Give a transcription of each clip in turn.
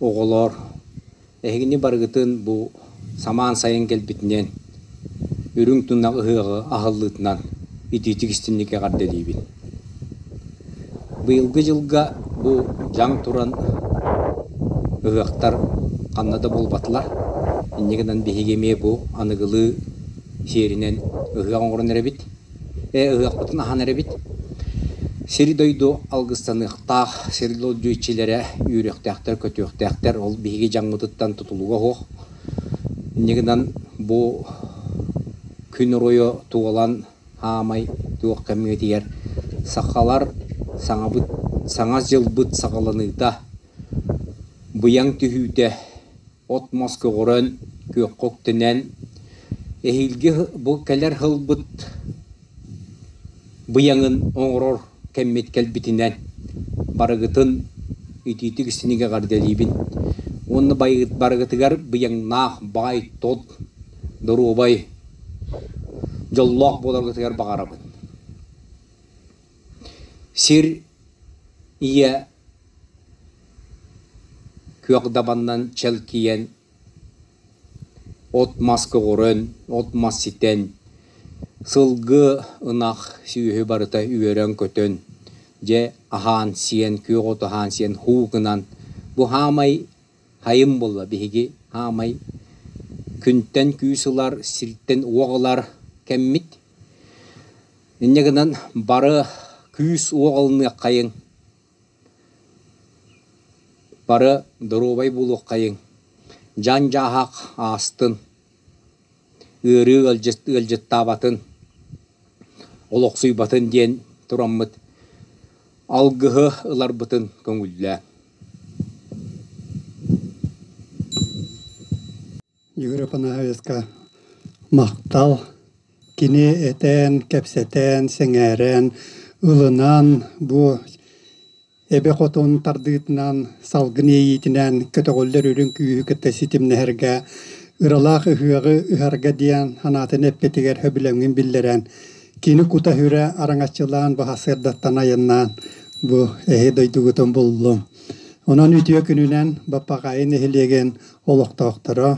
Оҕолоор, эһигини барыгытын бу самаан сайын кэлбитинэн, үрүҥ тунах ыһыаҕы аһыллыытынан итиитик истиҥник эҕэрдэлиибин. Быйылгы дьылга бу дьаҥ туран ыһыахтар ханна да буолбатылар. Инньэ гынан биһиги эмиэ бу аныгылыы сиэринэн ыһыах оҥорон эрэбит. Ээ, ыһыахпытын аһан эрэбит. Сири-дойду алгыстаныахтаах, сири-дойду иччилэрэ үөрүөхтээхтэр-көтүөхтээхтэр, ол биһиги дьаҥмытыттан тутулуга суох. Инньэ гынан бу күн оройу туолан аамай туох кэмҥитигэр сахалар саҥабыт, саҥа дьылбыт саҕаланыыта, быйаҥ түһүүтэ от-мас көҕүрэн, күөххэ үктэнэн, эһиилги бу кэлэр сылбыт быйаҥын оҥорор кэммит кэлбитинэн барыгытын итиитик синигэ эҕэрдэлиибин уонна барыгытыгар быйаҥнаах баай тот, доруобай, дьоллоох буоларгытыгар баҕарабын. Сир, ийэ, Күөх дабанынан чэлкийэн, от-мас көҕөрөн, от-мас ситэн, сылгы, ынах, сүөһү барыта үөрэн-көтөн, дьэ аһаан-сиэн, күөх оту аһаан-сиэн һуу гынан, бу хаамай хайым буолла биһиги хаамай күнтэн күүс ылар, сиртэн уох ылар кэммит. Инньэ гынан бары күүс уоҕаланыаххайыҥ, бары доруобай буолуоххайыҥ, дьан-дьааһак аастын, ыарыы ыалдьыттаабатын, олохсуйбатын диэн тураммыт алгыһы ыларбытын көҥүллээн. Егор Афанасьевичка махтал. Кини этэн, кэпсэтэн, сэҥээрэн, ылынан бу эбэ хотун тардыытынан, салгын иэйиитинэн көтөҕүллэр үрүҥ күүһү кытта ситимнэһэргэ, ыралаах ыһыаҕы ыһарга диэн санаатын эппитигэр сөбүлэҥин биллэрэн, кини кута-сүрэ араҥаччылаан, баһассыардаттан айаннаан бу эһи дойдугутун буллум. Онон үтүө күнүнэн Баппаҕайы нэһилиэгин олохтоохторо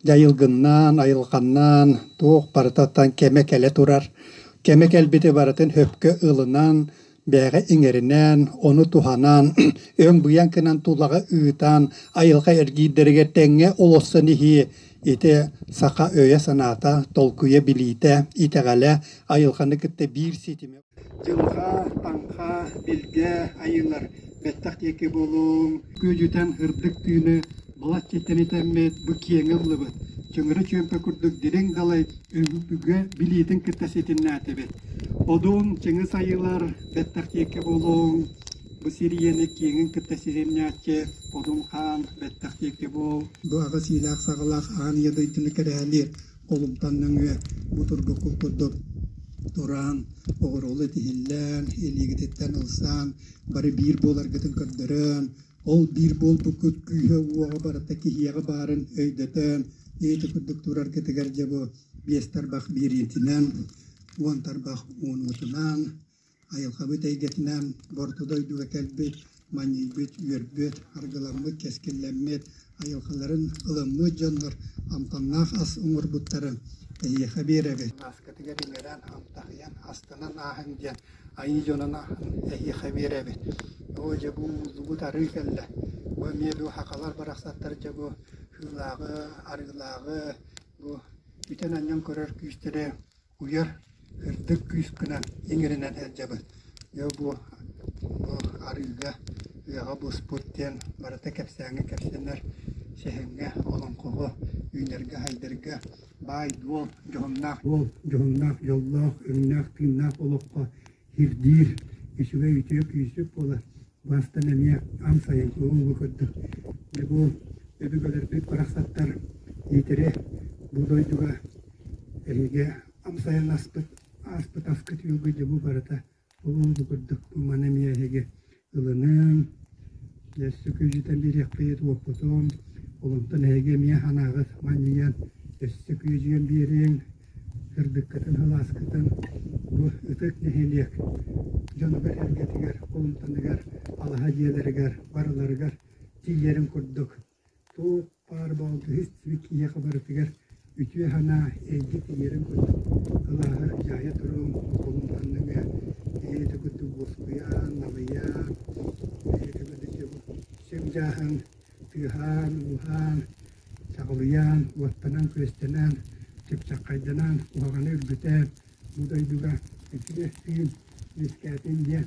дьайылгыннаан, айылҕаннаан туох барытыттан кэмэ кэлэ турар. Кэмэ кэлбити барытын хөпкө ылынан, бэйэҕэ иҥэринэн, ону туһанан, өҥ-быйаҥ гынан тулаҕа ыытан, айылҕа эргиирдэригэр тэҥҥэ олорсон иһии ити саха өйө-санаата, толкуйа, билиитэ, итэҕэлэ, айылҕаны кытта биир ситимэ Дьылҕаа, Аҥхаа, Билгэ айыылар бэттэх диэки буолуоҥ, күөдьүтэн һырдык тыыны балачча тэнитэммит бу киэҥэ ыллыбыт, чыҥыры чүөмпэ курдук дириҥ далай өбүгэ билиитин кытта ситимнээтибит. Одун, Чыҥыс айыылар бэттэх диэки буолуоҥ, бу сир ийэни киэҥин кытта ситимнээччи Одун Хаан бэттэх диэки буол. Бу аҕыс иилээх-саҕалаах аан ийэ дойдуну кэрэһэлиир олумтан нөҥүө бу тургукку курдук тураан, оҕуруолу итиһиллээн, илиигититтэн ылсаан, бары биир буоларгытын көрдөрөөн, ол биир буолбуккут күүһэ-уоҕа барыта киһиэҕэ баарын өйдөтөөн, эйэтэ курдук тураргытыгар дьэ бу биэс тарбах биэриитинэн, уон тарбах уонуутунаан Айылҕабыт эйгэтинээн Орто дойдуга кэлбит, манньыйбыт, үөрбүт, аргыламмыт, кэскиллэммит, айылҕаларын ылыммыт дьоннор амтаннаах ас оҥорбуттарын эһиэхэ биэрэбит. Мааскатыгар иҥэрэн, амтаһыйан, астынан ааһыҥ диэн айыы дьонун аһын эһиэхэ биэрэбит. Оо, дьэ бу ууллубут арыы кэллэ. Бу эмиэ бу хахалар барахсаттар дьэ бу һыылааҕы, арыылааҕы, бу бүтэн анньан көрөр күүстэрэ уйар үрдүк күүскүнэн иҥиринэн сылдьабын дьэ бу бу арыыга ыаҕа буспут диэн барыта кэпсээҥҥэ кэпсэнэр сэһэҥҥэ олоҥхоҕо үүнэргэ-сайдарга баай-дуол дьоһуннаах дьоллоох өҥнөөх-тыыннаах олоххо Ирдиир, үчүгэй үтүөк-үүсүк буолар, бастан эмиэ амсайын куһуугу курдук. Дьэ бу өбүгэлэрбит барахсаттар Иитирэ бу дойдуга эһиги амсайын аспыт ааспыт аскыт үөлгү дьэ бу барыта улуу курдук. Маны эмиэ эһиги ылыныаҥ, өссө күөдьүтэн биэриэхпит, уоппутун, олонтон эһиги эмиэ анааҕыт манньыйан, өссө күөдьүөн биэриэҥ, кырдыккытын, халааскытын бу ытык нэһилиэк дьонугар-сэргэтигэр, холумтаныгар, алаһа дьиэлэригэр барыларыгар тиийэрин курдук Туох-баар балтыһы истибит киһиэхэ барытыгар үтүө санаа, эйгэ тиийэрин курдук кылааһы дьаайа туруом, холун ханныгы бэйэтэ курдук буоскуйан, налыйан, бэйэтэ курдук сөп-дьааһын тыаһаан, ууһаан, чаҕылыйан, уоттанан-күөстэнэн, чыпчаххайданан, куһаҕаны үргүтэн, бу дойдуга итини тыын үөскээтин диэн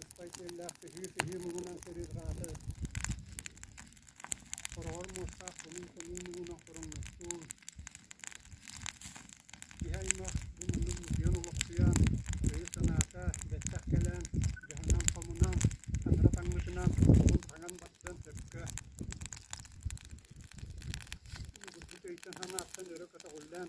Ыспай сиэллээх сыһыы-сыһыы муҥунан сырыырҕаата, хороҕор муостаах кылыым-кылыым муҥунан хороҥностуун, киһи-аймах бу муннук мутуйан олохсуйан, өйө-санаата бэттэх кэлэн, дьаһанан-хомунан, таҥара-таҥмытынан, соҕун-хаҥан баттыан сөпкө. Булгурбут өйтөн-санааттан өрө көтөҕүллэн,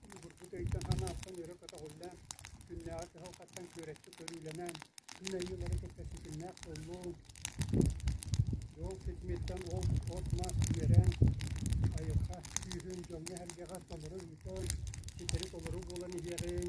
Холобурбут өйтөн санааттан өрө көтөҕүллэн, күннээҕи кыһалҕаттан күөрэччи көрүүлэнэн, күн айыылара кэпсэтиитиннээх буоллун, уол ситимиттэн от-мас үөрэн, айылҕа күүһүн дьоҥҥо эһэргэҕэ толору ыытан, ситэри толору буолан иһиэҕиҥ!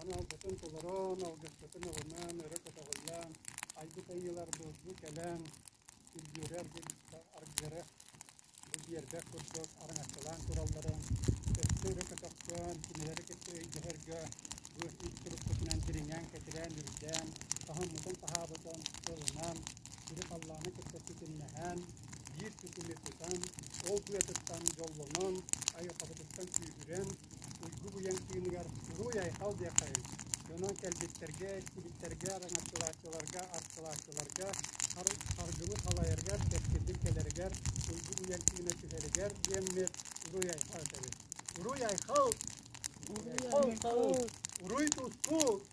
аналгытын толороон, алгыскытын ылынан, өрө көтөҕүллээн, айбыт айыылар былдьыы кэлэн үргүөрэ аргыара бу биэрбэх курдук араҥаччылаан туралларын, өссө өрө көтөхсөн, кинилэри кытта өйдөһөргө бу ис туруккутунан дириҥээн, кэтирээн, үрдээн, таһыммытын-таһаабытын ылынан, сири-халлааны кытта ситимнэһэн, биир ситими тутан, ол быатыттан дьоллонон, айылҕабытыттан күүһүрэн, уйгу быйаҥ тыыныгар уруй-айхал диэххэйиҥ! Дьонон кэлбиттэргэ, истибиттэргэ, араҥаччылааччыларга, астылааччыларга, харгыбы халайаргар, кэскилбин кэлэригэр, уйгу быйаҥ тыына түһэригэр диэммит уруй-айхал этэбит. Уруй-айхал! Уруй-тустуу!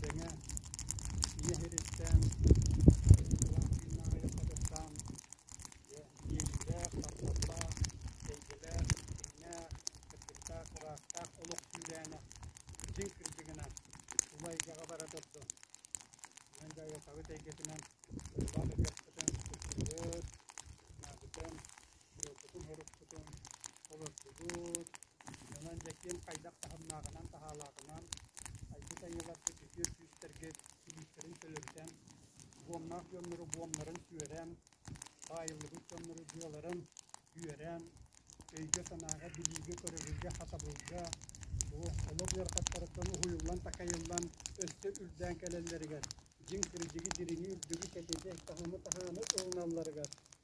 Тэҥэ нэһилистээн Валентина аҕыйахтатыттаан дьэ иэйиилээх, тапталлаах, эйгэлээх, дьиҥнээх, кырдьыктаах, ыраахтаах олох сүүрээнэ дьиҥ кырдьыгынан тула эйгэҕэ бара турду. Мин бэйэтабыт эйгэтинэн улаах ыччаппытын кыттыбыт, наадытын буолбутун-мурукпутун олордубут. Онон Дьэкиэн хайдах таһымнааҕынан-таһаалаатынан айбыт айыыларгыт, үтүө күүстэргит илиитэрин төлөрүтэн, буомнаах дьоннору буомнарын сүөрэн, баайыллыбыт дьоннору дьыаларын үөрэн, өйгө-санааҕа, билиигэ-көрөрүгэ, хатабылга, олох ыарахаттарыттан уһуйуллан-такайыллан өссө үрдээн кэлэллэригэр, дьиҥ кырдьыгы, дириҥи, үрдүгү, кэтиити, таһымы-таһааны ылыналларыгар